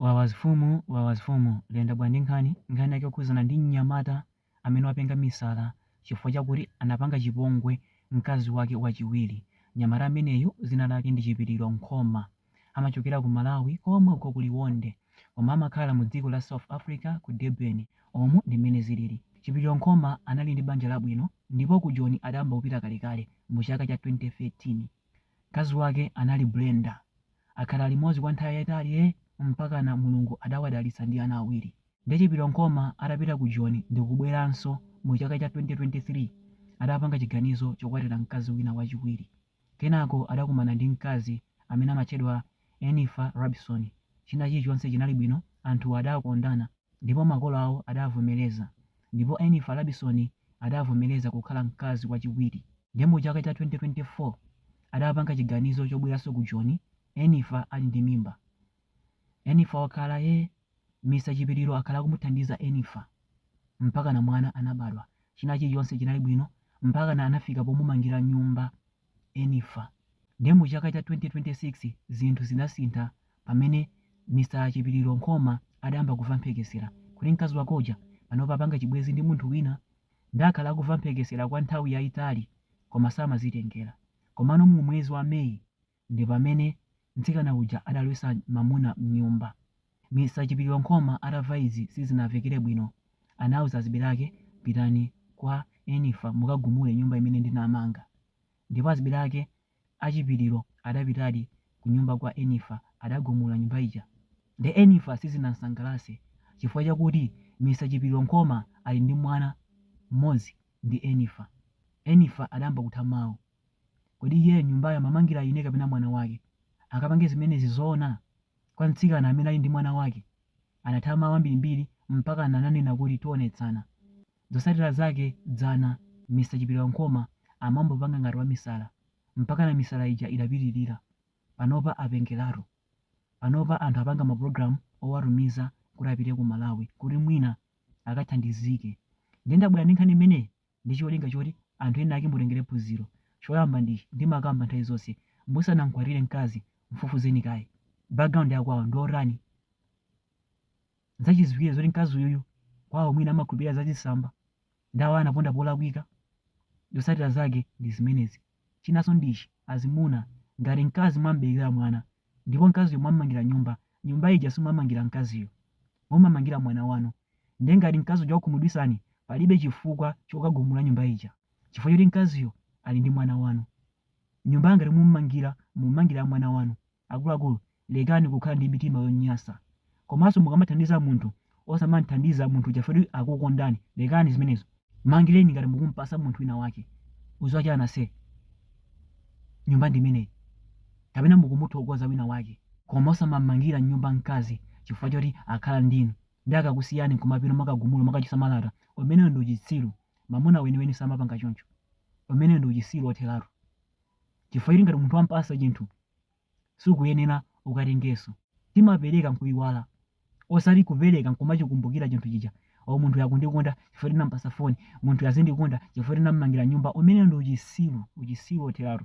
Wawa mfumu wawa mfumu likuyenda bwa ndi nkhani nkhani yake yokhuzana ndi mnyamata amene wapenga misala chifukwa chakuti anapanga chipongwe mkazi wake wachiwiri mnyamata ameneyu dzina lake ndi chipiliro nkhoma amachokera ku malawi komwe uko ku liwonde koma amakhala mu dziko la south africa ku durban umu ndi mmene zinalili chipiliro nkhoma anali ndi banja labwino ndipo ku joni adayamba kupita kalekale mu chaka cha 2013 mkazi wake anali brenda akhala limodzi kwa nthawi yaitali ee mpakana Mulungu adawadalitsa ndi ana awiri. Nde Chipiliro Nkhoma adapita ku Joni ndikubweranso mu chaka cha 2023 adapanga chiganizo chokwatira mkazi wina wachiwiri. Kenako adakumana ndi mkazi amene amatchedwa Enifa Rabisoni. China chilichonse chinali bwino, anthuwa adakondana. Ndipo makolo awo adavomereza, ndipo Enifa Rabisoni adavomereza kukhala mkazi wachiwiri. Ndiye mu chaka cha 2024 adapanga chiganizo chobweranso ku Joni, Enifa ali ndi mimba. Enifa wakhala ee Mr Chipiliro akhala akumuthandiza Enifa mpakana mwana anabadwa, china chilichonse chinali bwino mpakana anafika pomumangira nyumba. Enifa, Ndiye mu chaka cha 2026 zinthu zidasintha pamene Mr Chipiliro Nkhoma adayamba kuva mphekesera kuti mkazi wake uja panopa wapanga chibwenzi ndi munthu wina. Ndiye akhala akuva mphekesera kwa nthawi yaitali koma samazitengera. Komano mu mwezi wa May ndi pamene mtsikana uja adalowetsa mamuna m'nyumba. Mr Chipiliro Nkhoma atava izi sizinavekere bwino anauza azibale ake pitani kwa Enifa mukagumule nyumba imene ndinamanga ndipo azibale ake a Chipiliro adapitadi kunyumba kwa Enifa adagumula nyumba ija nde Enifa sizinamsangalatse chifukwa chakuti Mr Chipiliro Nkhoma ali ndi mwana m'modzi ndi Enifa Enifa adayamba kutha mau Kodi iyeyo nyumbayo amamangira ine kapena mwana wake? Angapange zimenezi zoona? Kwa mtsikana amene ali ndi mwana wake? Anatha mawu ambirimbiri mpakana ananena kuti tionetsana. Zotsatira zake dzana Mr Chipiliro Nkhoma amambopanga ngati wamisala. Mpakana misala ija idapitirira. Panopa apengeratu. Panopa anthu apanga mapulogalamu owatumiza kuti apite ku Malawi kuti mwina akathandizike. Ndiye ndabwera ndi nkhani imeneyi ndi cholinga choti anthu enaake mutengerepo phunziro. Choyamba ndi ichi, ndimakamba nthawi zonse, musanamkwatire mkazi, mfufuzeni kaye. Background ya kwawo ndiotani? Nzachiziwikire zoti mkazi uyuyu kwawo mwina amakhulupirira za zitsamba, ndiye awa anaponda polakwika? Zotsatira zake ndi zimenezi. Chinanso ndi ichi, azimuna, ngati mkazi mwamuberekera mwana ndipo mkaziyo mwamumangira nyumba, nyumba ija simumamangira mkaziyo. Mumamangira mwana wanu. Ndiye ngati mkazi uja wakukhumudwitsani, palibe chifukwa chokagumula nyumba ija chifukwa choti mkaziyo ali ndi mwana wanu. Nyumba ngati mumumangira, mumamangira mwana wanu. Akuluakulu, lekani kukhala ndi mitima yonyasa. Komanso mukamathandiza munthu osamamuthandiza munthu uja foti akukondani, lekani zimenezo. Mmangileni ngati mukumpasa munthu wina wake udziwa chani ase nyumba ndimeneyi kapena mukumuthokoza wina wake. Koma osamammangila nyumba mkazi chifukwa choti akhala ndinu nde akakusiyani nkumapita mwakagumula mwakachosa malata umenewo ndi uchitsiru mamuna weniweni samapanga choncho umenewo ndi uchisiru othelatu. chifukwa choti ngati munthu wampasa chinthu sukuyenera ukatengeso timapereka nkuiwala osati kupereka nkumachikumbukira chinthu chija o munthuyu akundikonda chifukwa choti ndinampasa phone munthuyu azindikonda chifukwa choti ndinammangira nyumba umenewo ndi uchisiru uchisiru otheratu.